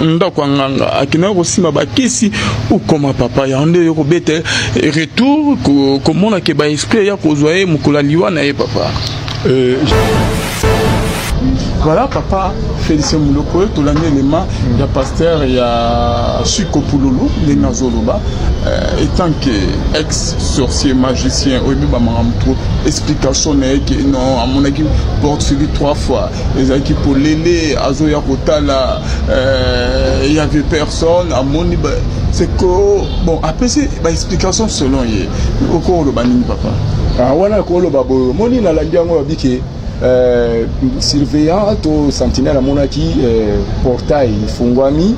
ndako ya nganga akendaki kosimba bakisi ukoma papa yango nde yo kobeta retour komona ke baesprit ya kozwa ye mokolo ya liwa na ye papa euh, voilà papa félicien moloko tolandi elema ya pasteur ya suko pululu ndenge azoloba euh, etant que ex sorcier magicien oyebi bamaka moto explication na ye ke non amonaki porte figure trois fois ezalaki polele azoya kotala euh, y avait personne amoni c'est que bon apesi baexplication selon ye oko oloba nini papa ah, wana koloba boyo moni nalandi yango babike euh, surveillant to sentinelle amonaki euh, portail efungwami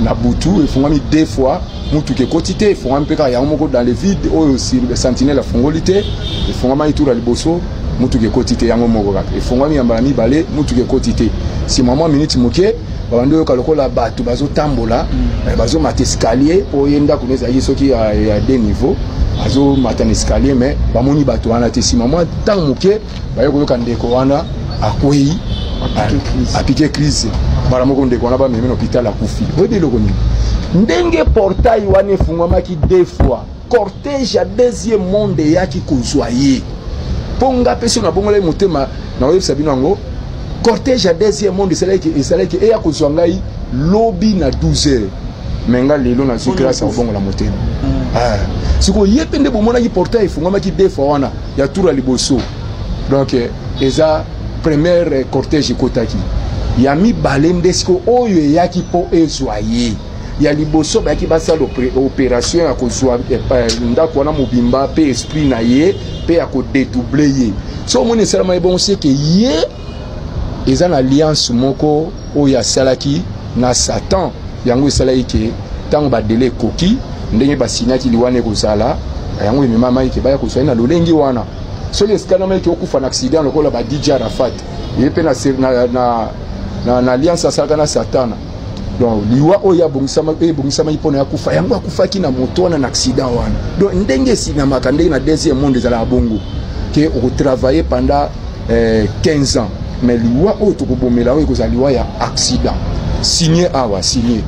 na butu efungwami deux fois motuka ekoti te efungwami mpe kaka yango moko dans le vide oyo sentinelle afungoli te efungamaki tour ya liboso motuka ekoti te yango moko kaka efongwami ya mbala mibale motuka ekoti te nsima mwa miniti moke babandi oyoka lokola bato bazotambola mm. eh, bazomata escalier mpo ye ndako no ezalaki soki ya de niveau azomata na escalier mais bamoni bato wana te nsima mwa ntango moke baye koyoka ndeko wana akwei apike crise mbala moko ndeko wana bamemi na hôpital akufi oyebi eloko nini ndenge portail wana efungwamaki deux fois cortège ya deuxième monde eyaki kozwa ye mpo nga mpe soki nabongolaki motema nakoyebisa bino yango cortège ya deuxième monde esalaki esalaki eya kozwa ngai lobi na 12 heures me nga lelo nazwi grâce ya kobongola motema mm. ah. sikoyo ye mpe nde bomonaki portail efungamaki de fois wana ya tour ya liboso donc eh, eza première eh, cortège ekotaki ya mibale nde sikoyo oyo eyaki mpo ezwa ye ya liboso bayaki basala operation ya kozwa eh, eh, ndako wana mobimba mpe esprit na ye mpe ya kodetouble ye so omoni esalama ye bongo seke ye eza na alliance moko oyo asalaki na satan yango esalaki ke ntango badele ekoki ndenge basinyaki liwana ekozala yango ememamaki ke baya kozwai na lolenge wana soki esikanamaki ke okufa na accident lokola ba dj arafat ye mpe na, na, na, na, na alliance asalaka na satana donc liwa oyo ebongisamaki mpona ya kufa yango akufaki na moto wana na accident wana donc ndenge esinamaka ndenge na deuxième monde ezalaka bongo ke okotravaille pendant eh, 15 ans mais liwa oyo tokobomela oyo ekozala liwa ya accident signe awa signe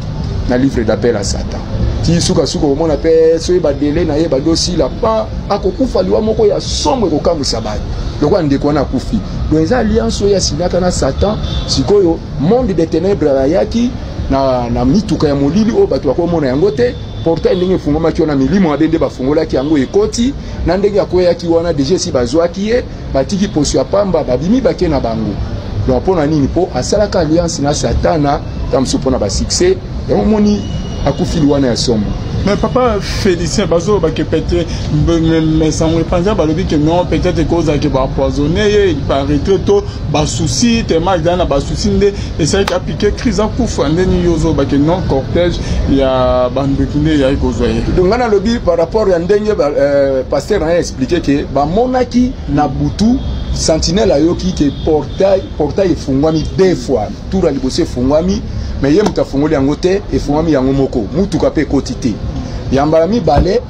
na livre d'appel ya satan ti sukasuka omona mpe soki badele na ye bandi osila pa akokufa liwa moko ya somo ekokamwisa bato lokola ndeko wana akufi donc eza alliance oyo asinaka na satan sikoyo monde de ténèbres ayaki na, na mituka ya molili oyo bato bakomona yango te portail ndenge efungwamaki wana milimo mabe nde bafungolaki yango ekoti na ndenge akweyaki wana deja esi bazwaki ye batiki poso ya pamba babimi bake na bango donc mpo na nini mpo asalaka alliance na satana ta mosusu mpo na basuccès yango omoni akufili wana ya somo mais papa félicien bazoloba ke pete sango epanza balobi ke non peut-être ekozala ke bapoisonne ye il paraîtrait to basusi tellement ezali na basusi nde esalaki apike crise akufa nde nini yo ozobake non cortège ya bandoki nde eyaki kozwa ye donc ngai nalobi par rapport ya ndenge euh, paster na ye explike ke bamonaki na butu sentinelle ayoki ke portail portail efungwami deux fois tour ya liboso efungwami mais ye moto afungoli yango te efungwami yango moko motuka mpe ekoti te ya mbala mibale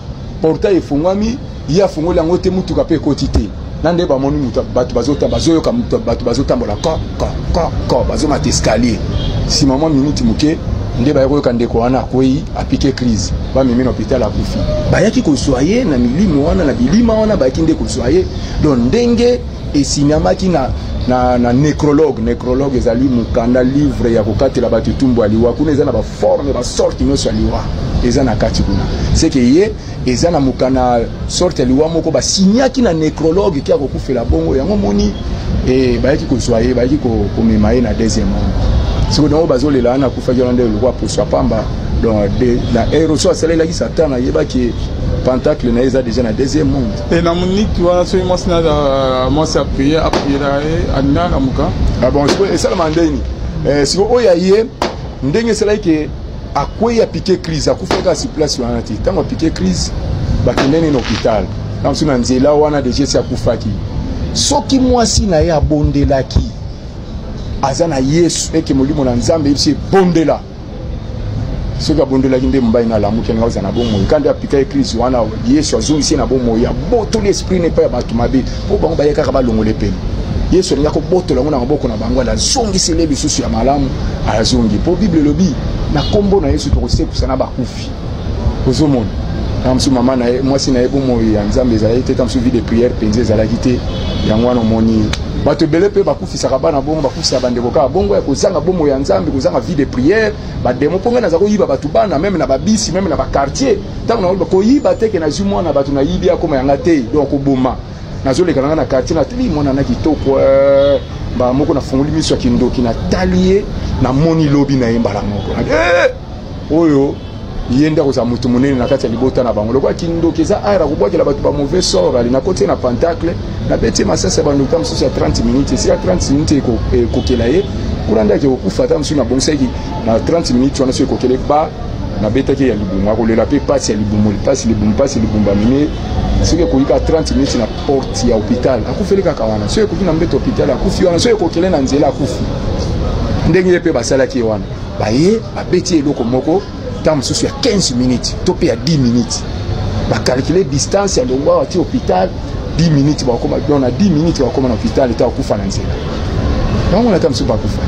portail efungwami ye afungoli yango te motuka mpe ekoti te na nde bamoni bato bazoyoka bato bazotambola ko ko ko ko bazomata escalier nsima mwa minuti moke nde baye koyoka ndeko wana akwei apike crise bamemi na hôpital akufi bayaki kozwa ye na milimo wana na bilima wana bayaki nde kozwa ye don ndenge esinyamaki na, na, na necrologue necrologue ezali mokanda livre ya kokatela bato etumbu ya liwa kuna eza na baforme basorte nyonso ya liwa eza na kati kuna seke ye eza na mokana sorte ya liwa moko basinyaki na necrologue ke akokufela bongo yango moni e, bayaki kozwa ye bayaki komema ye na deuxième monde sikoyo yango bazolela wana akufaki wana nde lokwa poso ya pamba donc na aéroso asalelaki satan ayebaki pentacle na ye eza deja na deuxième monde e na moniki wana soki mwasi na euh, mwasi apriye apriyela ye alingaka kamuka ah bon sikoyo esalama ndeni eh, sikoyo oyo ya ye ndenge esalaki ke akwei apike crise akufa kaka si place wana te ntango apike crise bakende nini hôpital ntango soki na nzela wana deja esi akufaki soki mwasi na ye abondelaki aza na yesu eke molimo na nzambe eyebisi ebondela soki abondelaki nde mobali na alamuki alinga kozala na bomoi kandi apika eklise wana yesu azongisi ye na bomoi abotoli esprit na epai ya bato mabe mpo bango baye kaka balongola epene yesu alingi akobotola yango na maboko na bango azongiseli ye lisusu ya malamu azongi mpo bible elobi na nkombo na yesu tokosekusa na bakufi ozomona ntango mosusu mama na ye mwasi na ye bomoi ya nzambe ezalaki te ntango mosusu vie de prière mpenza ezalaki te yango wana omoni bato ebele mpe bakufisaka bana bongo bakufisaka bandeko kaka bongo ya kozanga bomo ya nzambe kozanga vie de prière bademo mpo ngai naza koyiba bato bana meme na babisi meme na bakartier ntango nakoyiba koyiba teke nazwi mwana bato nayibi akoma yanga te donc koboma nazoleka na ngai na kartier natali mwana na kitoko eh, mbala moko nafungoli miso ya kindoki natali ye namoni lobi na ye mbala moko eh! oyo ye nde akozala moto monene na kati ya libota na bango lokola kindoki eza aire akobwakela bato ba mauvais sort ali nakoti ye na pentacle nabeti ye masasi ya bandoki ta mosusu ya 30 minutes esika 30 minutes ekokela ye kuna nde ake kokufa ata mosusu nabongisaki na 30 minutes wana so ekokele ba nabetaki ya libumu akolela mpe mpasi ya libumu mpasi libumu mpasi libumu bamemi soki ekoki kaka 30 minutes na porte ya hôpital akufeli kaka wana soki ekoki na mbeto hôpital akufi wana soki ekokele na nzela akufi ndenge ye mpe basalaki ye wana baye babeti eloko moko ntango mosusu ya 15 minutes to mpe ya 10 minutes bakalkule distance ya longwa wati hôpital 10 minutes bakoma don na 10 minutes bakoma na hôpital eta bakufa na nzela bango nata mosusu bakufa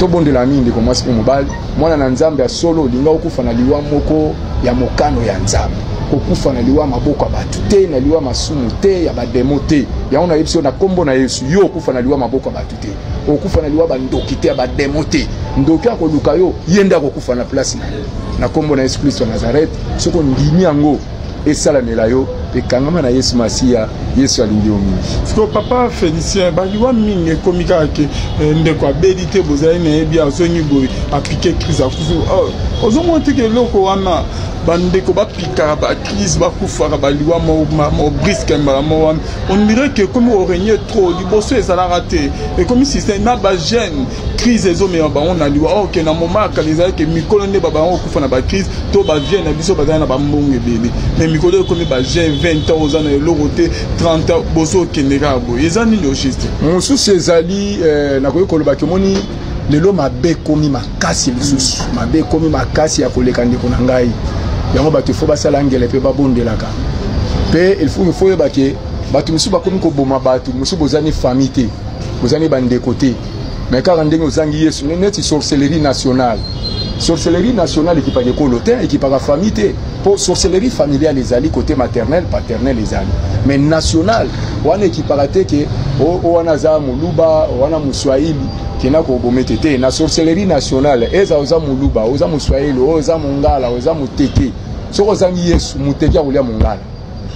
tobondela mingi ndeko mwasi mpe mobali mwana na nzambe ya solo olinga okufa na liwa moko ya mokano ya nzambe kokufa na liwa maboko ya bato te na liwa masumu te ya bademo te yango nayebisi yo na nkombo na yesu yo okufa na liwa maboko ya bato te okufa na liwa bandoki te ya bademo te ndoki akoluka yo ye nde akokufa na place na yo na nkombo na yesu kristo ya nazarete soki ondimi yango esalamela yo ekangama na yesu masiya yesu alingi yo mingi siko papa félicien baliwa mingi ekomi kaka ke eh, ndeko abeli te bozali na ye bi azongi boye apike crise akufi oh, ozomona teke eloko wana bandeko bapikaka bacrise bakufaka baliwa mo briske mbala mo wana on dirait que ekomi koregne trop liboso ezalaka te ekomi système na bagene crise ezomema bango na liwa or ke na moma ya kala ezali ke mikolo nde babango kokufa na bacrise to bavie na biso bazali na bambongo ebele mais mikolo ekomi bagene 20 ans oza na eloko te 30 ans boso okende kaka boye eza nini au juste mosusu ezali eh, nakoki koloba kemoni lelo mabe ekomi makasi lisusu mabe ekomi makasi ya koleka ndeko na ngai yango bato ifo basala ngele mpe babondelaka mpe ilfo ifo oyeba ke bato mosusu bakomi koboma bato mosusu bozani famille te bozani bandeko te me kaka ndenge ozangi yesu neti sorcellerie nationale sorcellerie nationale ekipaka ekolo te ekipaka famille te mpo sorcellerie familiale ezali kote maternel paternel ezali mais national wana ekipaka te ke o wana aza moluba wana moswahili kena kobomete te na sorcellerie nationale eza oza moluba oza moswahili oza mongala oza moteke soki ozangi yesu moteke akolia mongala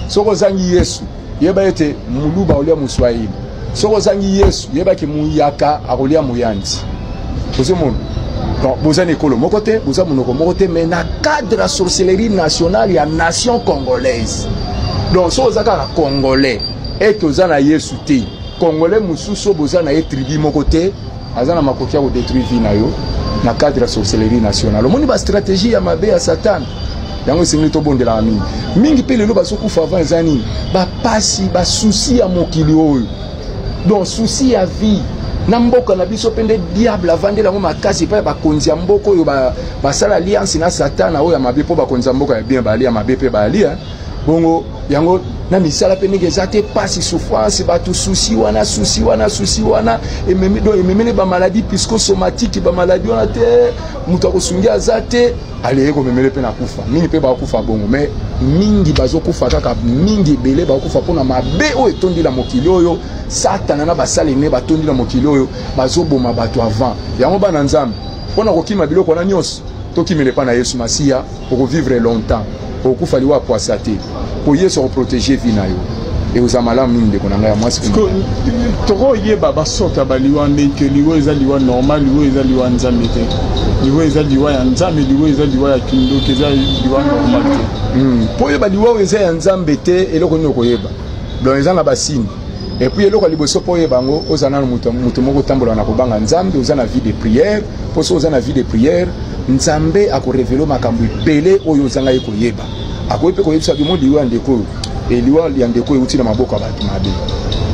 soki ozangi yesu yeba ete muluba olia moswahili soki ozangi yesu yeba ke muyaka akolia moyanzi ozomona donc boza na ekolo moko te boza monoko moko te mais na cadre ya sorcellerie nationale ya nation congolaise donc soki oza kaka congolais ete oza na yesu te congolais mosusu oyo boza na ye tribu moko te aza na makoki ya kodetruire vie na yo na cadre ya sorcellerie nationale omoni bastratégie ya mabe ya satana yango esengeli tobondelaka mingi mingi mpe lelo bazokufa avant eza nini bapasi basusi ya mokili oyo donc susi ya vie na mboka na biso mpe nde diable avandeli yango makasi epai ya bakonzi ya mboka oyo basala ba alliance na satana oyo ya mabe mpo bakonzi ya mboka ya bien baali ya mabe mpe baali bongo yango na misala mpe ndenge eza te mpasi souffrance bato susi wana susi wana susi wana ememi donc ememeli bamaladi piscosomatike bamaladi wana te moto akosungi aza te aleye komemele mpe na kufa mingi mpe bakufa bongo mais mingi bazokufa kaka mingi ebele bakufa mpo na mabe oyo etondi na mokili oyo satana na basali ne batondi na mokili oyo bazoboma bato avant yango bana nzambe mpo na kokima biloko wana nyonso tokimela epai na yesu masiya okovivre longtemps okokufa liwa pwasa te mpo yesu akoprotege vi na yo ekozala malamu mingi ndeko na ngai ya mwasi tokoyeba basorte ya baliwa nde ke liwa eza liwa normal liwa eza liwa nzambe te liwa eza liwa ya nzambe liwa eza liwa ya kindoki eza liwa normal te mpo hmm. oyeba liwa oyo eza ya nzambe te eloko nini okoyeba donc eza na basini et puis eloko ya liboso mpo oyeba yango oza nano moto moko otambola na kobanga nzambe oza na vie de prière mpo soki oza na vie de prière nzambe akorevele makambo ebele oyo ozanga ye koyeba akoki mpe koyebisa bimo liwa ya ndeko oyo eliwa ya ndeko euti na maboko ya bato mabe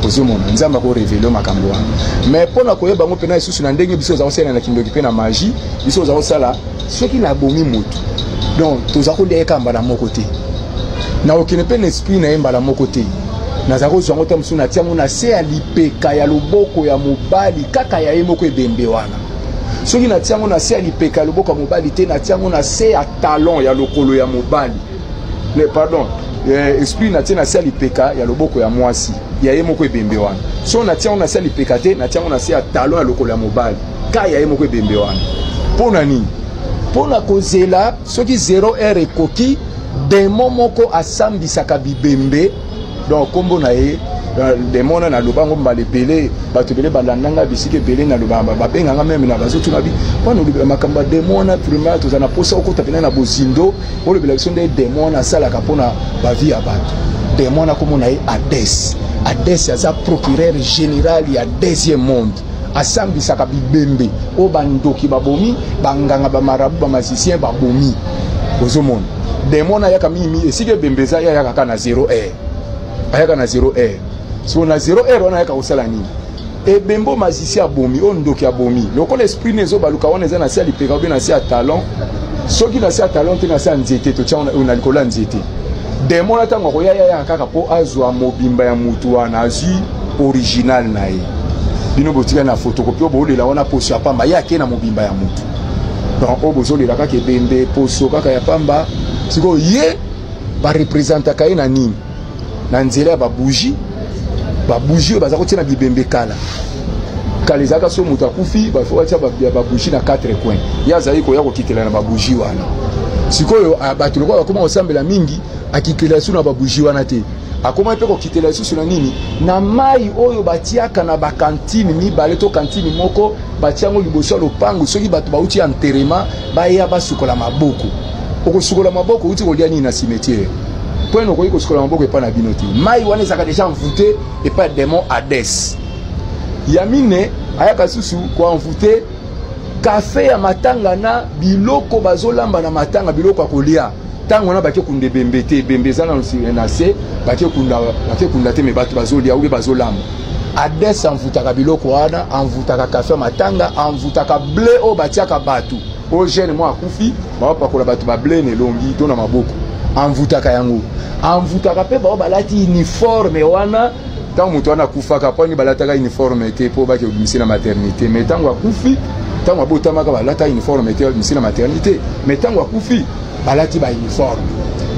ozomona nzambe akorevele makambo wana mais mpo na koyeba yango mpena lisusu na ndenge biso oza kosalela na kindoki mpe na magie biso oza kosala soki nabomi motu donc toza kolia kaka mbala moko te nakokende mpe na esprit na ye mbala moko te nazala kozwa yango ta mosusu natia yango na se ya lipeka ya loboko ya mobali kaka ya ye moko ebembe wana soki natia yango na se ya lipeka ya loboko ya mobali te natia yango na se ya talon ya lokolo ya mobali ne pardon eh, esprit natie na se ya lipeka ya loboko ya mwasi ya ye moko ebembe wana so natia yango na se ya lipeka te natia yango na se ya talon ya lokolo ya mobali ka ya ye moko ebembe wana mpo na nini mpo na kozela soki 0 heure ekoki demo moko asambisaka bibembe donc nkombo na ye euh, demo wana naloba yango mbala ebele bato ebele balanda ngai bisika ebele naloba babenga ngai meme na bazotuna bi mpona olobela makambo ya demo wana primaire tozala na mposa okota mpena na bozindo olobela biso nde demo wana asalaka mpona bavi ya bato demo wana nkombo na ye ades ades aza procureur général ya deuxième monde asambisaka bibembe oyo bandoki babomi banganga bamarabu bamasicien babomi ozomona demo na ayaka mingi mingi esika ebembe eza ye ayaka kaka na zero air ayaka na zero air siko na zero air wana ayaka kosala nini ebembe oyo masisi abomi oyo ndoki abomi lokola esprit na ezobaluka wana eza na se ya lipeka obe na se ya talon soki na se ya talon te na se ya nzete totya na likolo ya nzete demo na ntango akoya yayaka kaka mpo azwa mobimba ya motu wana azwi original na ye bino botika na fotokopi oyo boolela wana poso ya pamba ye akei na mobimba ya motu donc oyo bozolela kaka ebembe poso kaka ya pamba sikoyo ye barepresentaka ye na nini na nzela ya babougie babougie oyo baza kotia na bibembe kala kala ezalaka so moto akufi bafo batia babougie na 4 coin ye azali koya kokitela na babougie wana sikoyo ah, bato lokola bakoma kosambela mingi akitela so na babougie wana te akomaki mpe kokitela lisusu na nini na mai oyo batiaka na bakantine mibale to kantine moko batia yango liboso ya lopango soki bato bauti ya nterema baya basukola maboko okosukola maboko outi kolia nini na cimetiere mpo ene okoki kosukola maboko epai na bino te mai wana ezalaka deja envoute epai ya demon hades ya mine ayaka lisusu koenvoute kafe ya matanga na biloko bazolamba na matanga biloko ya kolia ntango wana bake kunda ebembe te ebembe eza na se bake kunda te me bato bazolia obe bazolamba ades envoutaka biloko wana envoutaka kafe matanga envoutaka ble oyo batiaka bato oyo gene mwa akufi baopakola bato bable na elongi to na maboko envoutaka yango envoutaka mpe bao balati uniforme wana ntango moto wana akufaka mpo ani balataka uniforme te mpo bake obimisi na maternité mais ntango akufi ntango abotamaka balata uniforme te obimisi na maternité mais ntango akufi balati bauniforme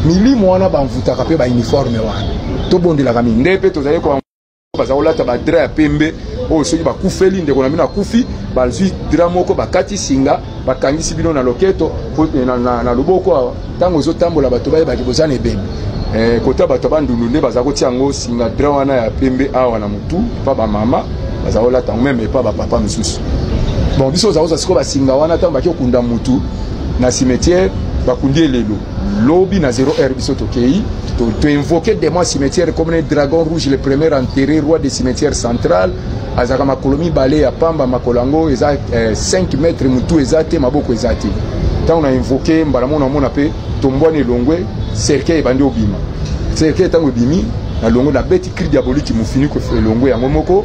milimo wana bamvutaka mpe bauniforme wana tobondelaka mingi nde mpe tozali baza kolata badra ya pembe oyo soki bakufeli ndeko na bino akufi bazwi dra moko bakati singa bakangisi bino na loketo eh, na, na, na loboko awa ntango ozotambola bato bayebaki boza na ebembe eh, kota bato ya bandundu nde baza kotia yango singa dra wana ya pembe awa na motu epa bamama baza kolata yango meme epa bapapa mosusu bon biso oza kozwa sikoyo basinga wana ntango baki okunda motu na cimetière bakundi elelo lobi na 0 heure biso tokei toinvoke to demon cimetière comme ne dragon rouge le premier enterré roi de cimetière central azalaka makolo mibale ya pamba makolo yango eza eh, 5 mètre motu eza te maboko eza te ntango na invoke mbala moko namona mpe tombwani elongwe cercueil ebandi obima cercueil ntango ebimi na longo nabeti cri diabolique mofiniko elongwe yango moko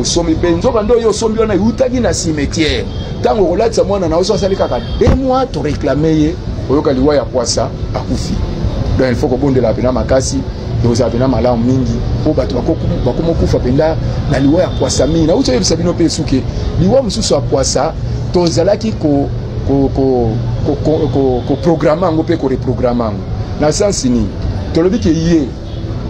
osombi mpe nzoka nde oyo osombi wana eutaki na cimetière ntango okolatisa mwana na oso asali kaka de mois toreklame ye oyoka liwa ya kwasa akufi donc il faut kobondelaka mpena makasi ekozala mpena malamu mingi mpo bato bakoma okufa mpenza na liwa ya kwasa mingi nauti oyebisa bino mpe esuke liwa mosusu ya kwasa tozalaki koprograme yango mpe koreprograme yango na sensi nini tolobi ke ye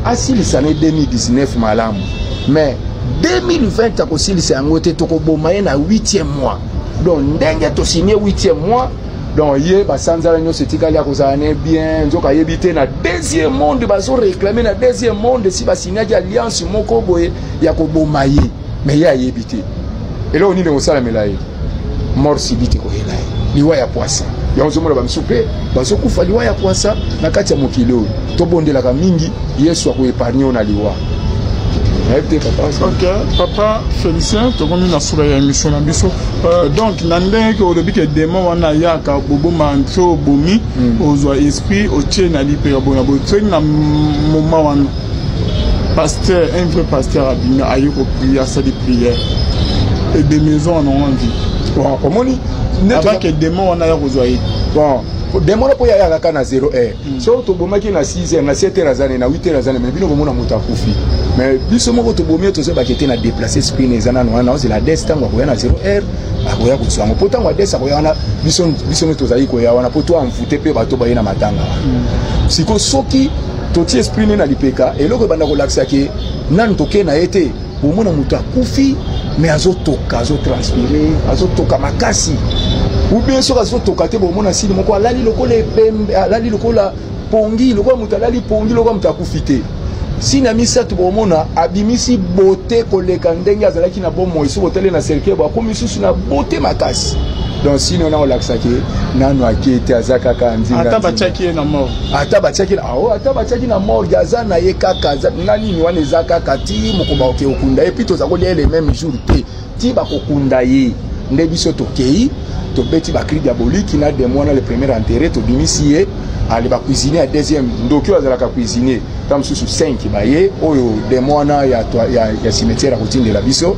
asilisa ne 2019 malamu mais 2020 akosilisa yango te tokoboma ye na 8e mois donc ndenge tosigne 8e mois donc ye basanzala nyonso etikali akozala ne bien nzoka ayebi te na deuxième monde bazoreklame na deuxième monde si basignaki alliance moko boye ya koboma ye mais ye ayebi te eloko nini ekosalamela ye mort sibiti koyela ye liwa ya pwasa yango ozomona bamisu mpe bazokufa liwa ya pwasa na kati ya mokili oyo tobondelaka mingi yesu akoepargne yo na liwa nayebi te papa ok papa félicien tokomi na sura ya émission na biso euh, donc na ndenge olobi ke démon wana ayaka boboma nso obomi hmm. ozwa esprit otie na lipeka bona botsweli na moma wana pasteur un vrai pasteur abimi aye koprie asali prière ede maison wana wangi bon omoni abake demon wana ya kozwa ye bon demon mpo ya yaka na 0 heure hmm. so tobomaki na 6 heure na 7 heure azane na 8 heure azane mais bino komona moto akufi mais biso moko tobomi tozobaki te na déplace esprit na eza nano wana ozela des ntango akoya na 0 heure akoya kozwa yango mpo ntango ades akoya wana biso nde tozali koya wana mpo to envoute mpe bato baye na matanga hmm. sikoyo soki totie esprit ne na lipeka eloko ebanda kolakisa ke nanu toke na ye te omona moto akufi me azotoka azotranspire azotoka makasi ubien soki azotoka te bomona sili moko alali lokola epembe alali lokola pongi lokola moto alali pongi lokola moto akufi te sini ya misato bomona abimisi bote koleka ndenge azalaki na bomoi soki otali na cercueil bo akomi lisusu na bote makasi donc sini wana kolakisa ke nanu ake te aza kaka nzinga ata batiaki ye na mort ata batiaki na oh, ata batiaki na morgue aza na ye kaka nga nini wana eza kaka ti mokomba oke okunda ye mpi toza kolia ye le même jour te ti bakokunda ye nde biso tokei tobeti bacri diaboliki na demo wana le premier enterre tobimisi ye ale bacuisinier ya deuxième ndoki oyo azalaka cuisinier ta mosusu 5 baye oyo demo wana ya, ya, ya cimetière akotindela biso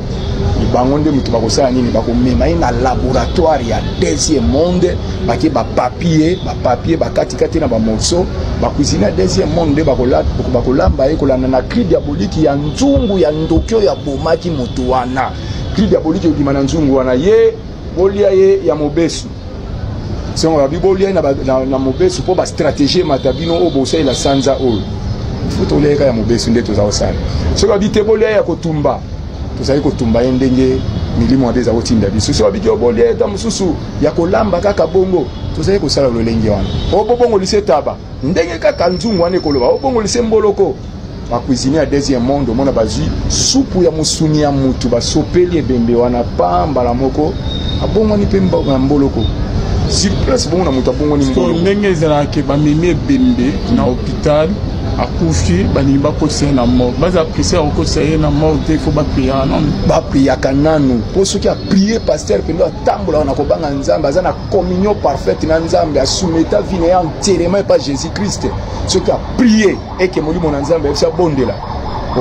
bango nde moto bakosala nini bakomema ye na laboratoire ya deuxième monde bake bapapie papier bakatikati na bamorceau bakuisine ya deuxième monde nde bakolamba ye kolanda na cri diaboliki ya nzungu ya ndoki oyo abomaki moto wana cri diaboliki ebima na nzungu wana ye bolia ye ya mobesu songo babi bolia ye na, na, na mobesu mpo bastratégie emata bino oyo bosalela sanza oyo fo tolia ye kaka ya mobesu nde toza kosala soki babi te bolia ye ya kotumba tozali kotumba ye ndenge milimo ade eza kotinda biso soki babi te bolia ye ta mosusu ya kolamba kaka bongo tozali kosala lolenge wana obobongolise taba ndenge kaka nzungu wana ekoloba obongolise mboloko bacuisine ya deuxième monde omona bazwi supu ya mosuni ya motu basopeli ebembe wana pa mbala moko abongwani mpe na mboloko sur place bongo na moto abongwani mboloko ndenge ezalaka ke bamemi ebembe na hôpital akufi balingi bakotisa ye na morgue baza apprécie akokotisa ye na morgue te fo bapriaka nanu bapriaka nanu mpo soki aprie paster mpenza atambolaka na kobanga nzambe aza na communion parfaite na nzambe asumeta vie na ye enterrement epa jésus christ soki aprie eke molimo na nzambe ayebisi abondela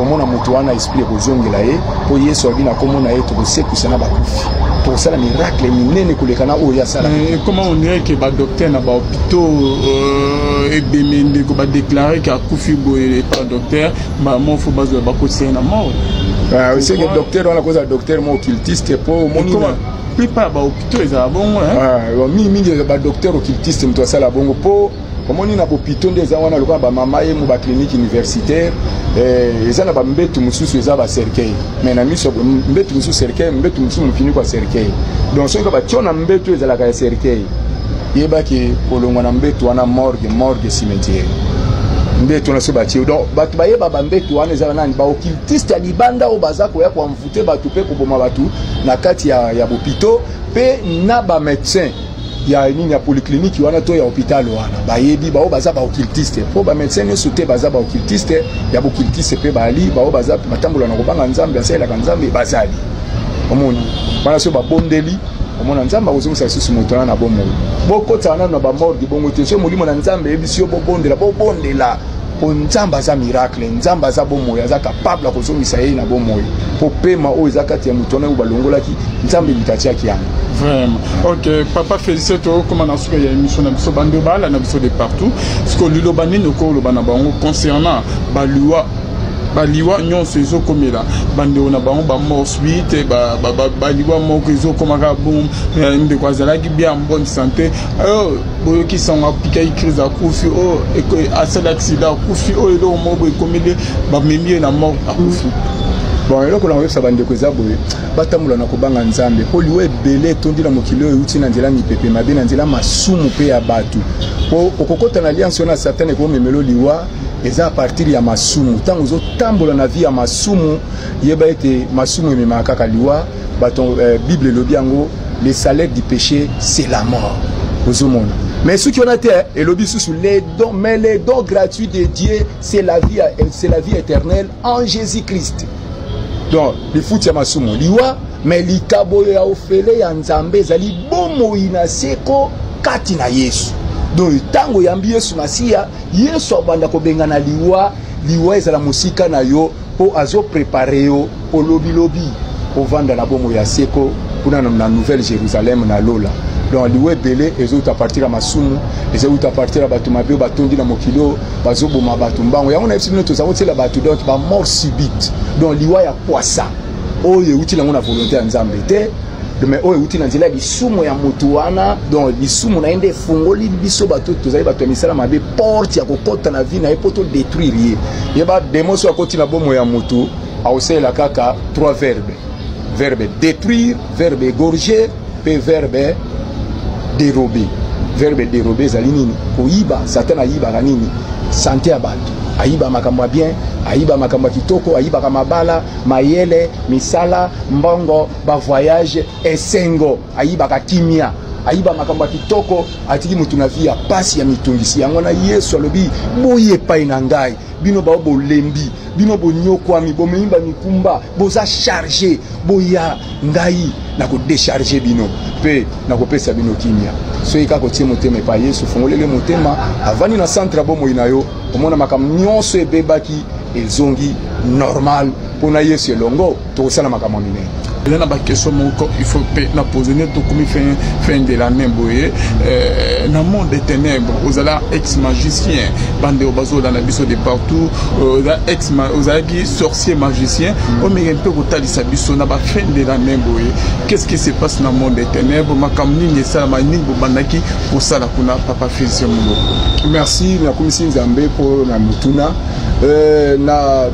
omona moto wana esprit ekozongela ye mpo yesu abi na nkombo na ye tokosekwisa na bakufi tokosala miracle minene koleka na oyo asala ekoma ondireke badokter na bahopitau euh, ebembe ndeko badeklare ke akufi boye epa dokter mbala moko fo bazwa bakotisa ye na mort oseke ah, dokter wana kozala dokter mo occultiste mpo omoni mpe pa to ezala bongo ah, mingi mingi ba docteur occultiste moto asala bongo mpo omoni na bopito nde eza wana lokola bamama ye mo baclinique universitaire eh, eza na bambetu mosusu eza bacercueil mais na miso mbetu mosusu cercueil mbetu mosusu mofiniko ya cercueil donc soki batio na mbetu ezalaka ya cercueil yebaki kolongwa na mbetu wana morgue morgue cimetière mbetu wana soki batie donc bato bayeba bambetu wana ezalaka nani baokiltiste ya libanda oyo baza koya te bato mpe koboma bato na kati ya, ya bopito mpe na bamédecin ya nini ya polyclinique wana to ya hôpital wana bayebi baoyo baza baoccultiste mpo bamédecin nyonso te baza baoccultiste ya boccultiste mpe bali baoyo baza batambola na kobanga nzambe asalelaka nzambe bazali omoni wana soki babondeli omona nzambe akozongisa lisusu moto wana na bomoi bokotana nano na bamorgi bongo te soki molimo na nzambe eyebisi yo bobondela bobondela mpo nzambe aza miracle nzambe aza bomoi aza kapable ya kozongisa ye na bomoi mpo pema oyo eza kati ya moto wana oyo balongolaki nzambe moto atiaki yango vraiment ok papa félicité tokoma na suka ya émission na biso bando bala na biso de partout siko liloba nini okoloba na bango concernant baliwa baliwa nyonso ezokomela bandeko na bango bamorse bi te baliwa moko ezokomaka bom eh, ndeko azalaki bien en bonne santé boyoki sango apikaki crise akufi oyo oh, asali aksida akufi oyo oh, eloko moko boye ekomeli bamemi ye na mort akufi bon eloko nango oyebisa bandeko eza boye batambola na kobanga nzambe mpo liwa ebele etondi na mokili oyo euti na nzela mipepe mabe na nzela masumu mpe ya bato mpo okokota na alliance wana satane ekomemelo liwa eza a partir ya masumu ntango ozotambola na vie ya masumu yeba ete masumu ememaka kaka liwa bato eh, bible elobi yango le salaire du péché c'est la mort ozomona mais soki wana te elobi lisusu les dons mais les dons gratuits de dieu c'est la vie c'est la vie éternelle en jésus christ donc lifuti ya masumu liwa mais likabo ya ofele ya nzambe ezali bomoi na seko kati na yesu donc ntango oyambi yesu masiya yesu abanda kobengana liwa liwa ezala mosika na yo mpo azo prepare yo mpo lobilobi ovanda na bomoi ya seko kuna na nouvelle jérusalem na lola donc liwa ebele ezouta partir ya masumu ezouta partir ya bato mabe batondi na mokili oyo bazoboma bato mbango yango nayebisi bino tozango tiela bato donc bamort subite donc liwa ya kwasa oyo euti nango na volonté ya nzambe te me oyo euti na nzela ya lisumu ya moto wana donc lisumu na ye nde efungoli biso bato tozali bato ya misala mabe porte ya kokɔta na vie na ye mpo todétruire ye ye bademo so akoti na bomo ya moto akosalela kaka trois verbe verbe détruire verbe égorger mpe verbe dérobe verbe dérobe ezali nini koyiba satan ayibaka nini sante ya bato ayiba makambo ya bien ayiba makambo ya kitoko ayibaka mabala mayele misala mbongo ba voyage esengo ayibaka kimia ayiba makambo ya kitoko atiki moto na vi ya mpasi ya mitungisi yango na yesu alobi boye epai na ngai bino bao bolembi bino bonyokwami bomemi bamikumba boza charge boya ngai na kodecharge bino mpe nakopesa bino kimia soki kaka otie motema epai yesu fongolele motema avandi na centre ya bomoi na yo omona makambo nyonso ebebaki ezongi normal mpo na yesu elongo tokosala makambo ya minene eza na bakestion moko il faut mpe na pose nde tokomi fin, fin de l'année boye euh, na monde de ténèbre ozala ex magicien bandeko bazolanda biso de partout euh, oza ex ozalaki sorcier magicien mm. omeke mpe kotalisa biso na bafin de l'année boye qu'est ce qui se passe na monde de ténèbre makambo nini esalama nini bobandaki kosala kuna papa filse moloko merci nakomisi nzambe mpo na motuna euh, na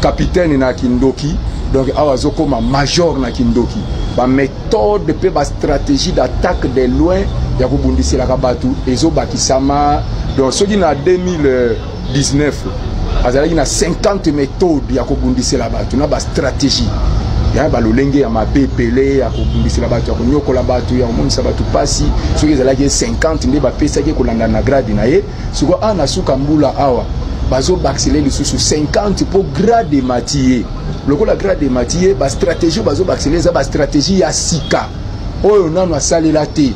capitaine na kindoki donc awa azokoma major na kindoki baméthode mpe bastratégie d'attaque de loin ya kobundiselaka bato ezobakisama donc soki na 2019 azalaki na 50 méthode ya kobundisela bato na bastratégie ya balolenge ya mabe ebele ya kobundisela bato ya konyokola bato ya komonisa bato mpasi soki ezalaki 50 nde bapesaki kolandana na grade na ye sikoyo awa na suka mbula awa bazobakisele lisusu 50 mpo grade emati ye lokola grade emati ye bastratégie oyo bazobakisele eza bastratégie ya sika oyo nano asalela te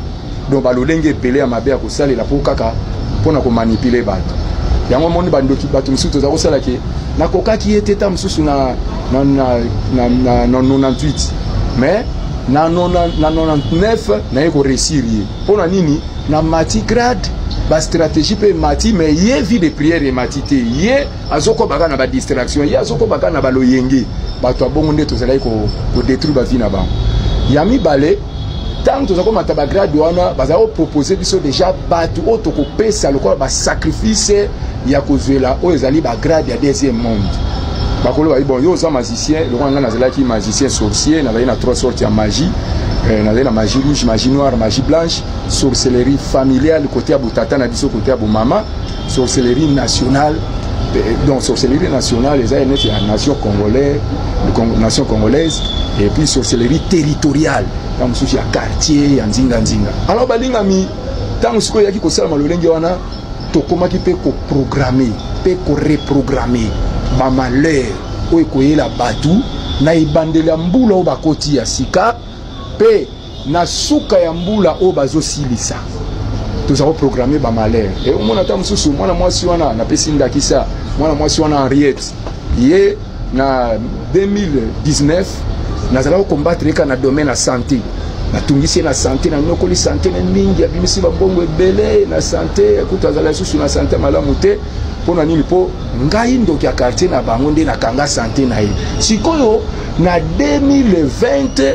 donc balolenge ebele ya mabe ya kosalela mpo kaka mpo na komanipule bato yango omoni bandoki bato mosusu toza kosala ke nakokaki ye te ta mosusu na, na, na, na, na, na 98 mais na 99 naye koresir ye mpo na nini na mati grade ba stratégie pe mati mais ye vie de prière et mati te ye azokoba kaka na ba distraction ye azokoba kaka na baloyenge bato ya bongo nde tozalaki kodétruire ba vie na bango ya mibale ntango toza komata bagrade wana bazali kopropose biso deja bato oyo tokopesa lokola basacrifice ya kozwela oyo ezali bagrade ya deuxième monde bakolo bayi bon yo oza magicien lokola ngai nazalaki magicien sorcier nazali na trois sorte ya magie eh, nazali na magie rouge magie noire magie blanche sorcellerie familiale kote ya botata na biso kote ya bomama sorcellerie nationale donc sorcellerie nationale eza neti ya nation congolais nation congolaise et puis sorcellerie territoriale ntango mosusu ya quartier ya nzinganzinga alors balingami ntango sikoyo eyaki kosalama lolenge wana tokomaki mpe koprograme mpe koreprograme bamalheur oyo ekoyela bato na ebandeli ya mbula oyo bakoti ya sika mpe na suka ya mbula oyo bazosilisa toza koprograme bamalere e omona ata mosusu mwana mwasi wana napesi ndakisa mwana mwasi wana henriette ye na 2019 nazalaki kokombatre eka na domaine ya sante natungisi ye na sante nanyokoli sante na mingi abimisi bambongo ebele na sante kutu azala lisusu na sante malamu te mpo na nini mpo ngai ndoki ya quartier na bango nde nakanga sante na ye sikoyo na 2020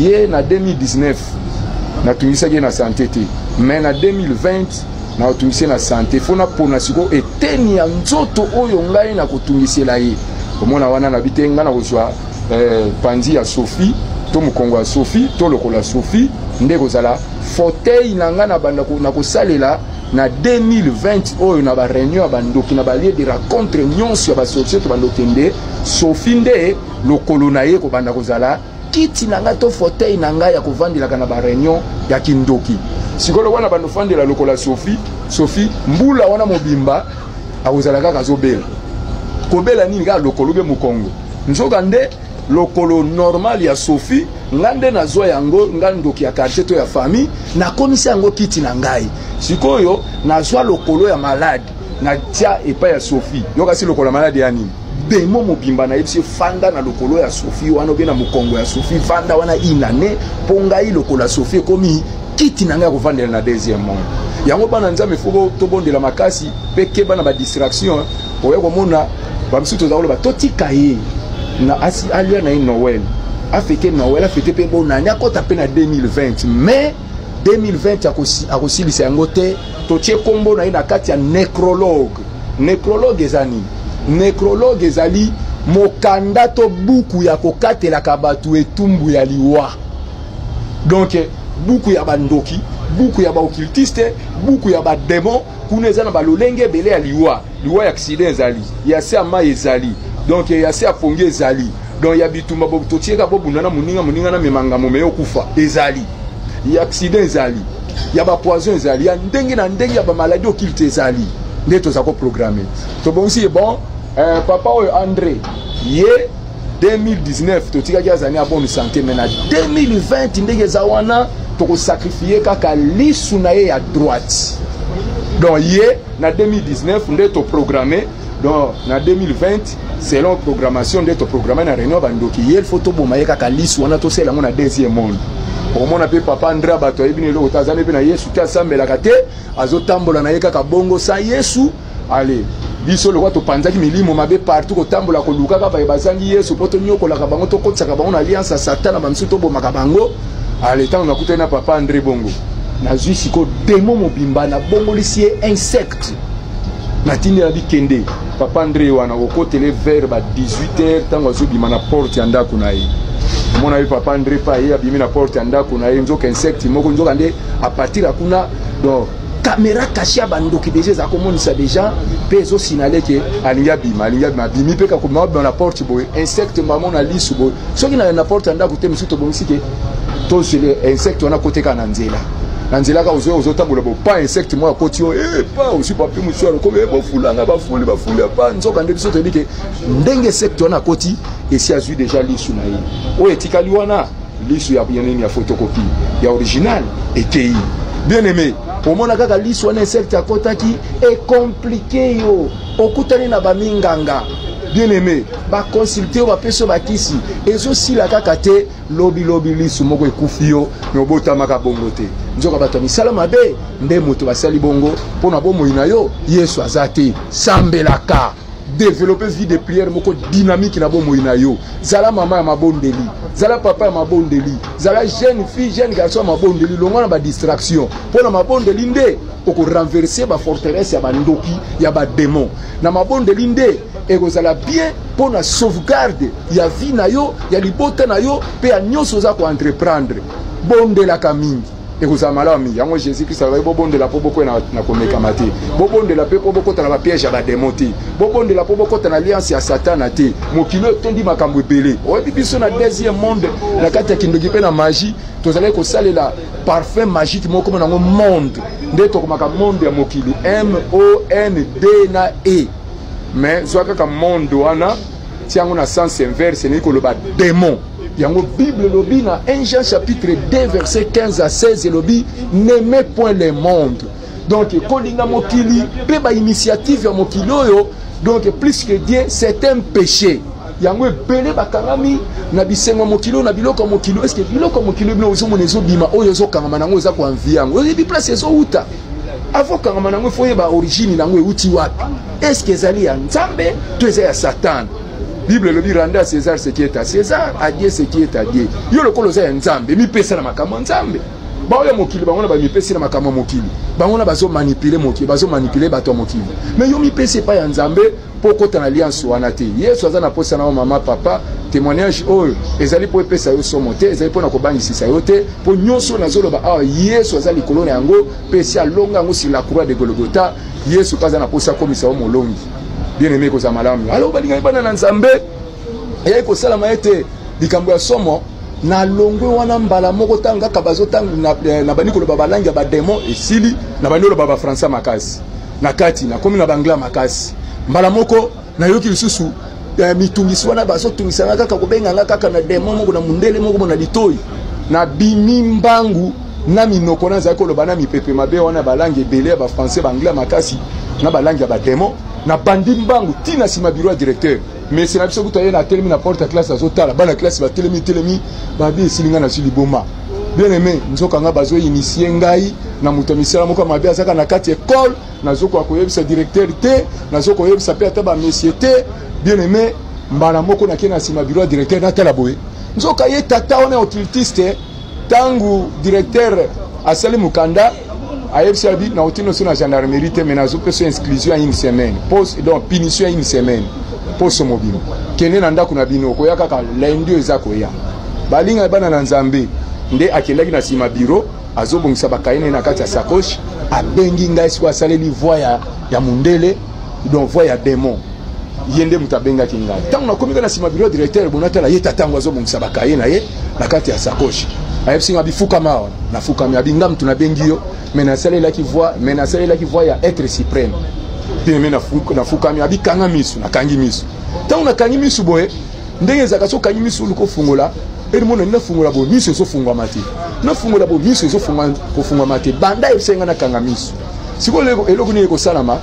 ye na 2019 natungisaki ye na sante te mais na 2020 nakotungisi ye na sante fo napona sikoyo eteni ya nzoto oyo ngai nakotungisela ye omona wana nabi te ngai nakozwa eh, panzi ya sophie to mokongo ya sophie to lokola sophie nde ekozala fauteuil na ngai nabanda nakosalela na 2020 oyo na bareunion ya bandoki na balie de racontre nyonso ya basorcier to bandoki nde sophie nde lokolo na ye kobanda kozala kiti na ngai to fauteuil na ngai ya kovandelaka na bareunion ya kindoki sikolo wana bandofandela lokola sophie sophie mbula wana mobimba akozala kaka azobela kobela nini kaka lokolo be mokongo nzoka nde lokolo normal ya sophie ngai nde nazwa yango ngai ndoki ya quartier to ya famille nakomisi yango kiti na ngai sikoyo nazwa lokolo ya malade na tia epai ya sophie yokasi lokola maladi ya nini demo mobimba nayebisi ye fanda na lokolo ya sophie wana obe na mokongo ya sophie fanda wana inane mpo ngai lokola sophie ekomi kiti na ngai ya kovandela na deuxième monde yango bana nzambe fo tobondela makasi mpe keba na badistraction oya komona bamisusu toza koloba totika ye na asi alia na ye noel afete noel afete mpe bonani akɔta mpe na 2020 mais 2020 akosilisa yango te totie nkombo na ye na kati ya necrologue necrologue eza nini necrologue ezali mokanda to buku ya kokatelaka bato etumbu ya liwa donk buku ya bandoki buku ya baokiltiste buku ya bademon kuna eza na balolenge ebele ya liwa liwa ya aksida ezali ya se ya mai ezali donk ya se ya pongi ezali donk ya bitumba totieka bobunda na moninga moninga na mema ngambo meye okufa ezali ya aksida ezali ya bapoison ezali ya ndenge na ndenge ya bamaladi okilte ezali nde toza koprograme tobongisi ye bon eh, papa oyo andre ye 2019 totikaki azali ya bonne santé mai na 2020 ndenge eza wana tokosakrifie kaka lisu na ye ya droite donc ye na 2019 nde toprograme donc na 2020 selon programmation nde toprograme na réunion bandoki ye faut toboma ye kaka lisu wana tosala yango na deuxième monde omona mpe papa ndra bato ayebi na eloko te azali mpe na yesu te asambelaka te azotambola na ye kaka bongo sa yesu ale biso lokola topanzaki milimo mabe partout kotambola kolukaka baye bazangi yesu mpo tonyokolaka bango tokotisaka bango na alliance ya satana bamisusu tobomaka bango ale ntango nakutani na papa andre bongo nazwi siko demo mobimba nabongolisi ye insecte natindela bikende papa andre wana kokotele vers ba 18 heures ntango azobima na porte ya ndako na ye omona ye papa andre pa ye abimi na porte ya ndako na ye nzoka insecte moko nzoka nde apartir ya kuna donc kamera kashe ya bandoki deja eza komonisa deja mpe ezosinale ke alingi abima alingi abima abimi mpe kakobima abima na porte boye insecte mamo na lisu boye soki na na porte ya ndako te mosusu tobongisi te tozele insecte wana koteka na nzela na nzela kaka ozoya ozotambola bopa insecte moko akoti yo epa eh, osi papi mosusu alokomi eh, bofulanga bafuli bafuli apa nzoka nde biso toyebi ke ndenge insecte wana akoti esi azwi deja lisu na ye oyo etikali wana lisu ya nini ya photocopie ya original ekeyi bien aimé omona kaka lisu wana insecte akotaki ekomplike yo okutani na baminganga bien aimé baconsulte yo bapesi yo bakisi ezosila kaka te lobilobi lisu moko ekufi yo me obotamaka bongo te nzoka bato ya misala mabe nde moto basali bongo mpo na bomoi na yo yesu aza te sambelaka developpe vie de prière moko dynamique na bomoi na yo zala mama ya mabondeli zala papa ya mabondeli zala jeune fille jeune garçon ya mabondeli longwa na badistraction mpo na mabondeli nde okorenverse baforteresse ya bandoki ya bademon na mabondeli nde ekozala bien mpo na sauvegarde ya vie na yo ya libota na yo mpe ya nyonso oza koentreprendre bondelaka mingi ekozala malamu mingi yango jésus kristo alobaki bobondela mpo bokwena na komekama te bobondela mpe mpo bokota na bapiège ya bademo te bobondela mpo bokota na alliance ya satana te mokili oyo etondi makambo ebele oyebi biso na deuxième monde na kati ya kindoki mpe na magie tozalaki kosalela parfum magique moko koma nango monde nde tokomaka monde ya mokili monde na e mais zwa kaka monde wana tia yango na sens inverse elingi koloba demon yango bible elobi na 1 jean chapitre 2 verset 15 à 16 elobi n'aime point le monde donc kolinga mokili mpe bainitiative ya mokili oyo donc plus que dieu c'est un péché yango ebele bakangami na bisengo ya mokili oyo na biloko ya mokili eske biloko ya mokili bino ozomona ezobima oyo ezokangama na yango eza koanvi yango oyebi place ezowuta avokangama na yango efo oyeba origine na yango ewuti wapi est ce que ezali ya nzambe to eza ya satana bible elobi rende a césar ce qui est à césar a dieu ce qui est à dieu yo lokola oza ya nzambe mipesa na makambo ya nzambe baoyo ya mokili bango na bamipesi na makambo ya mokili bango na bazomanipule mokili bazomanipule bato ya mokili me yo mipesi epai ya nzambe mpo okota na lianso wana te yesu aza na mposa na yo mama papa témoignage oyo ezali mpo epesa yo somo te ezali mpo na kobangisisa yo te mpo nyonso nazoloba awa yesu aza likolo na yango mpe esi alonga yango sur la croix de golgota yesu mpe aza na mposa akomisa yo molongi bien aime ekozala malamu alo balingaki bana na nzambe eyaki kosalama ete likambo ya somo na longwe wana mbala moko ntango kaka bazotango na, eh, na bandi koloba balangi ya bademon esili na bandi oloba bafrançais makasi na kati nakomi na bangla makasi mbala moko nayoki lisusu ya mitungisi wana bazotungisa nga kaka kobenga nga kaka na demo moko na mundele moko na litoi na bimi mbangu na minoko nazali koloba na mipepe mabe wana balangi ebele ya bafrançais baanglais makasi na balangi ya bademo na bandi mbangu ti na nsima biro ya directeur mesi na biso kutu aye na atelemi na porte ya classe azotala bana classe batelemi telemi babi esili ngai nazwi liboma bien aime nzoka ngai bazoinisie ngai na moto ya misala moko ya mabe azalaka na kati ekole nazokoka koyebisa directeur te nazoki koyebisa mpe ata bamesie te bien aime mbala moko nakei na nsima biro ya directeur natala boye nzoka ye tata wana ya occultiste ntango directeur asali mokanda ayebisi abi nauti noso na gendarmerie te mai nazopesa insclusion ya une semaine pos, donc punition ya une semaine poso mobima kende na ndako na bino okoya kaka lundi oyo eza koya balingaki bana na nzambe nde akendaki na nsima biro azobongisa bakaye na ye na kati ya sacoche abengi ngai sikoyo asaleli voi ya, ya mundele donc voi ya demon ye nde moto abengaki ngai ntango nakomi kaka na nsima biro directeur bonatala ye tata yango azobongisa bakaye na ye na kati ya sacoche ayebisi nga bifukama awa nafukami abi nga moto nabengi yo me nasalelaki voi me nasalelaki voi ya être supreme pine me nafukami abi kanga miso nakangi miso ntango nakangi miso boye ndenge ezalaka so okangi miso oluka ofungola elimona nafungola bo miso ezofungwama te nafungola bo miso ezofungwama te banda esenga nakanga miso sikoyo eloko nini ekosalama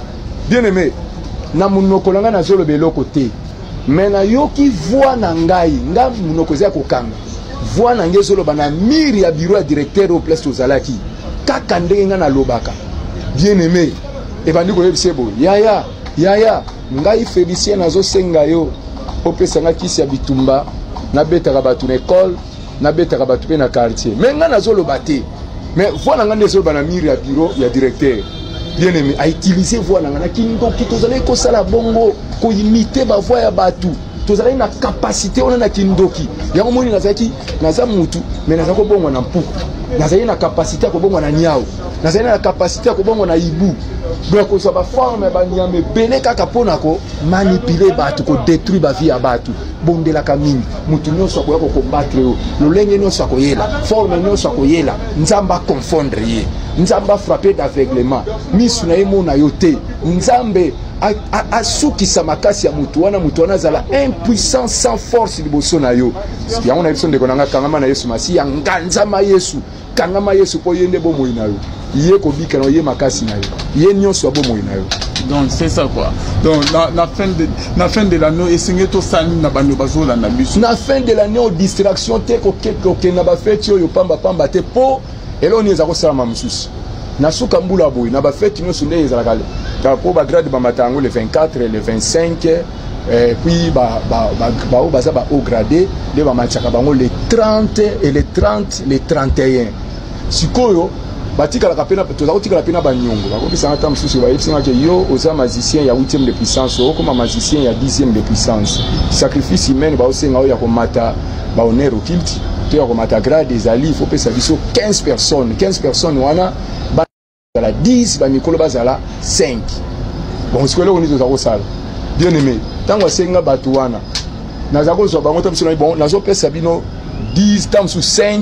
bien aime na monoko na ngai nazoloba eloko te me nayoki voi na ngai ngai monoko eza ya kokanga voi na ngai ezoloba na mire ya biro ya directeur oyo place tozalaki kaka ndenge ngai nalobaka bien aime ebandi koyebisa ye boye yaya yaya ngai felicien nazosenga yo opesa nga kisi ya bitumba nabetaka bato na ekole nabetaka bato mpe na quartier me ngai nazoloba te me voi na ngai nde ezoloba na mire ya biro ya directeur bien aimé autilize voi na ngai na kindoki tozalaki kosala bongo koimite bavoi ya bato tozalaki na kapasite wana na kindoki yango moni nazalaki naza mutu me naza kobongwa na mpuku nazali na kapasite ya kobongwa na niau nazali na kapasite ya kobongwa na ibu ya kozwa baforme ya banyama ebele kaka mpo na komanipule bato kodetruire bavie ya bato bondelaka mingi moto nyonso akoya kokombatre yo lolenge nyonso akoyela forme nyonso akoyela nzambe aconfondre ye nzambe afrape d'aveuglement misu na ye mona yo te nzambe asukisa makasi ya moto wana moto wana azala impuissant sans force liboso na yo yango na biso ndeko na ngai kangama na yesu masiya nganzama yesu kangama yesu mpo ye nde bomoi na yo ye kobika na yo ye makasi na yo ye nyonso ya bomoi na yo donc c'est ça quoi donc na, na, fin de, na fin de l'année esengeli tosala nini na bando bazolanda biso na fin de l'année o distraction te kokenda bafeti oyo pambapamba te mpo eloko nini eza kosalama mosusu na suka mbula boye na bafeti nyonso nde ezalaka mpo bagrade bamata yango le 24 le 25 eh, puis baoyo baza bahaut grade nde bamatishaka bango le 30 et le 30 le 31 sikoyo batikalaka mpe toza kotikala mpe na banyongo bakokisanga ntango mosusu bayebisanga ke yo oza magicien ya 8 de puissance okoma magicien ya 10 de puissance sacrifice humaine baosenga oyo ya komata ba honneur occulte to ya komata grade ezali faut pesa biso 15 personnes 15 personnes wana bazala 10 ba mikolo bazala 5 bon sikoyo eloko nini toza kosala bien aimé ntango asengi nga bato wana naza kozwa bango ta biso na bon nazopesa bino 10 ta mosusu 5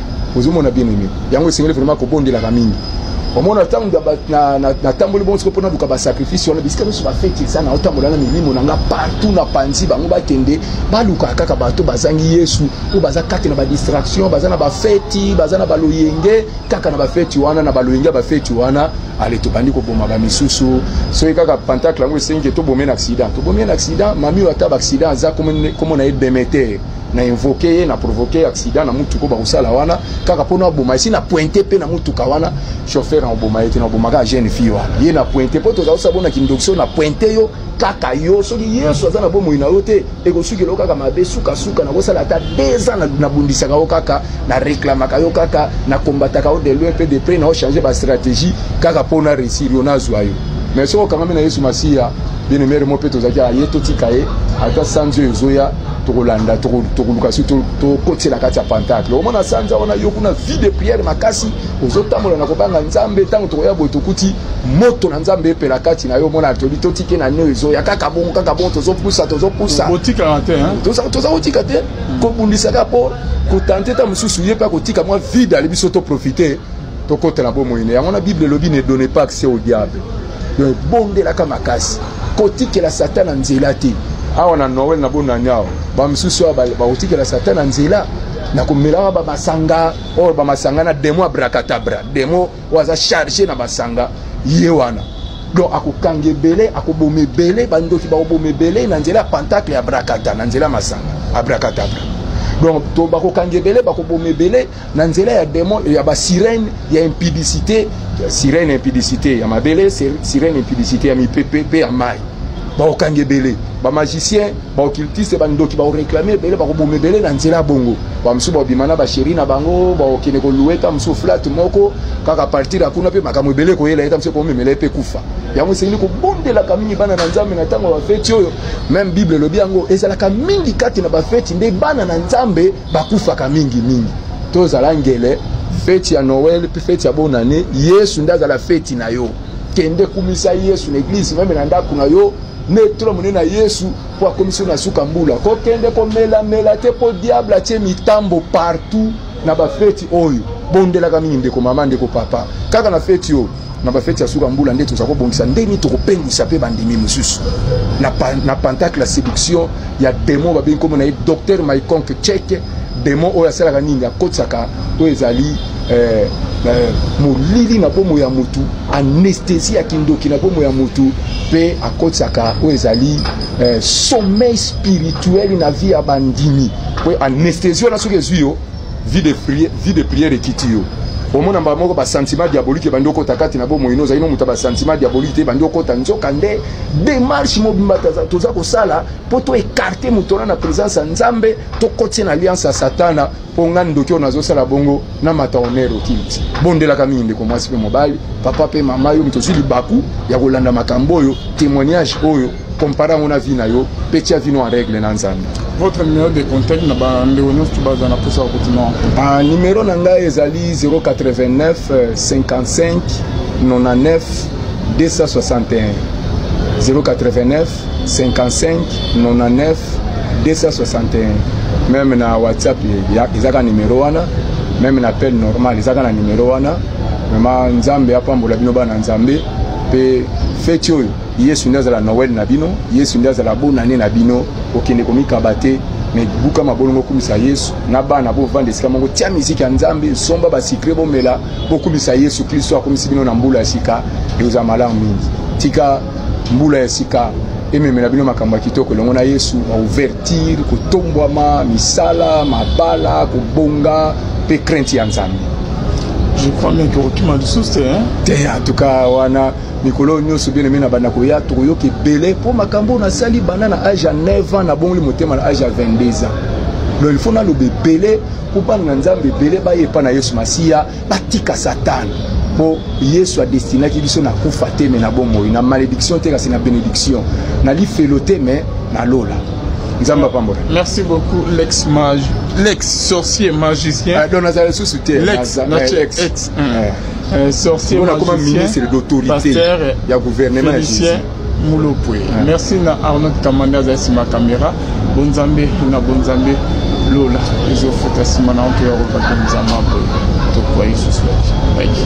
ozomona bien aime yango esengeli vraiment kobondelaka mingi omona ntango natamboli bongo siko mpo naluka basacrifice wana bisika nyonso bafeti eza na otambola na milimo na nga partout na panzi bango bakende balukaka kaka bato bazangi yesu oyo baza kati na badistraction baza na bafeti baza na baloyenge kaka na bafeti wana na baloyenge ya bafeti wana ale tobandi koboma bamisusu soki kaka pantacle yango esengi ke tobomie na accident tobomie na accident mami oyo ata baaccident aza komo na ye demeter na invoke ye na provoke accident na mutuka bakosala wana kaka mpo naboma esi na pointe mpe na mutuka wana chauffeur nakoboma ye te nakoboma kaka jeune fille wana ye na pointe mpo tozala kosala bona kindokisio na pointe yo kaka yo soki yesu aza na bomoi na yo te ekosukela yo kaka mabe sukasuka nakosala ata deux ans nabundisaka yo kaka na reklamaka yo kaka na kombataka yo de loin mpe de près na yo change bastratégie kaka mpo na réussir yo nazwa yo mais soki okangami na yesu masiya bien emere mo mpe tozalaki aye totika ye ata sanzi oyo ezoya tokolanda tokoluka soki tokotela kati ya pantacle omona sanza wana yo kuna vie de prière makasi ozotambola na kobanga nzambe ntango tokoya boye tokuti moto na nzambe epela kati na yo omona toli totike na neo ezoya kaka bongo kaka bongo tozopusa tozopusa toza kotika te hmm. kobundisa kaka mpo kotante ta mosusu ye mpe akotika mwa vide ali biso toprofite tokotela bomoi na yango na bible elobi ne donne pas accès au diable donc ebondelaka makasi kotikela satana nzela te awa na noel na bonani awa bamosusu awa bakotikela satana nzela na komelaka bamasanga oyo bamasanga na demo ya brakatabra demo oyo aza charge na masanga ye wana donc akokanga ebele akoboma ebele bandoki bakoboma ebele na nzela ya pantacle ya brakata na nzela ya masanga abrakatabra donc to bakokanga ebele bakoboma ebele na nzela ya demon ya ba sirène ya impudicité sirène impudicité ya mabele sirène impudicité ya mipepe pe ya mai baokanga ebele bamagicien baoccultiste bandoki baoreklame ebele bakoboma ebele na nzela bongo bamosusu baobima na basheri na bango baokende kolue ta mosusu flat moko kaka partir ya kuna mpe makambo ebele koyela ye ta mosusu ekomemela ye mpe kufa yango esengeli kobondelaka mingi bana na nzambe na ntango ya bafeti oyo meme bible elobi yango ezalaka mingi kati na bafeti nde bana na nzambe bakufaka mingi mingi tozala ngele feti ya noel mpe feti ya bonane yesu nde azala feti na yo kende kumisa yesu na eglize meme na ndako na yo netula monene na yesu mpo akomisi yo na suka mbula kokende komelamela te mpo diable atie mitambo partout na bafeti oyo bondelaka mingi ndeko mama ndeko papa kaka na feti oyo na bafeti ya suka mbula nde tozali kobongisa ndenge tokopengwisa mpe bandimi mosusu na, pa, na pentacle ya séduction ya demo babengi nkombo na ye docteur maiconque cheke demo oyo asalaka nini akotisaka oyo ezali eh, eh, molili na bomo ya motu anesthésie ya kindoki na bomo ya motu mpe akotisaka oyo ezali eh, sommeil spirituel na vie ya bandimi mpo anesthésie wana soki ezwi yo vie de prière, vie de prière ekiti yo omona mbala moko basentiment diabolique ebandi okota kati na bomoi no ozali no moto ya basentiment diabolique te ebandi okota nzoka nde démarche mobimba toza kosala mpo to écarte moto wana na présence ya nzambe tokotie na alliance ya satana mpo ngai ndoki oyo nazosala bongo na mata honere okiliti bondelaka mingi ndeko mwasi mpe mobali papa mpe mama yo moto ozwi libaku ya kolanda makambo oyo témoignage oyo compare yango na vie na yo mpe tia vino en règle na nzambe votre numéro de contact na bandeko nyonso to baza na mposa ya kotima ah, numero na ngai ezali 089 55 99 261 089 55 99 261 meme na whatsapp ezaka numero wana meme na appel normal ezaka na numero wana vraimen nzambe apambola bino bana nzambe mpe feti oyo yesu nde azala noel na bino yesu nde azala bonane na bino kokende komikaba te me buka mabolongo okumisa yesu na bana bovanda esika moko tia miziki ya nzambe somba basikre bomela bokumisa yesu klisto akomisi bino na mbula ya sika ekozala malamu mingi tika mbula ya sika ememela bino makambo ya kitoko elongo na yesu baouvertire kotombwama misala mabala kobonga mpe krente ya nzambe je crois bien que okima lisusu te te en tout cas wana mikolo oyo nyonso bien aime na banda koya tokoyoka ebele mpo makambo oyo nasali banda na age ya 9 ans nabongoli motema na age ya 22 ans donc il faut naloba ebele mpo bana na nzambe ebele baye epai na yesu masiya batika satana mpo yesu adestinaki biso na kufa te me na bomoi na malédiction te kasi na bénédiction na lifelo te me na lola nzambe apambola merci beaucoup lex mage lex sorcier magicien ah, donc nazala lisusu te lex, lex. lex. Mm. euh, sorcier magicien pasteur ya gouvernement ya Jésus mulopwe ah. merci na arnaud kamanda azali nsima kamera bonzambe na bonzambe lola ezofuta nsima na oto ya kobakenzama boye tokwai susu yaki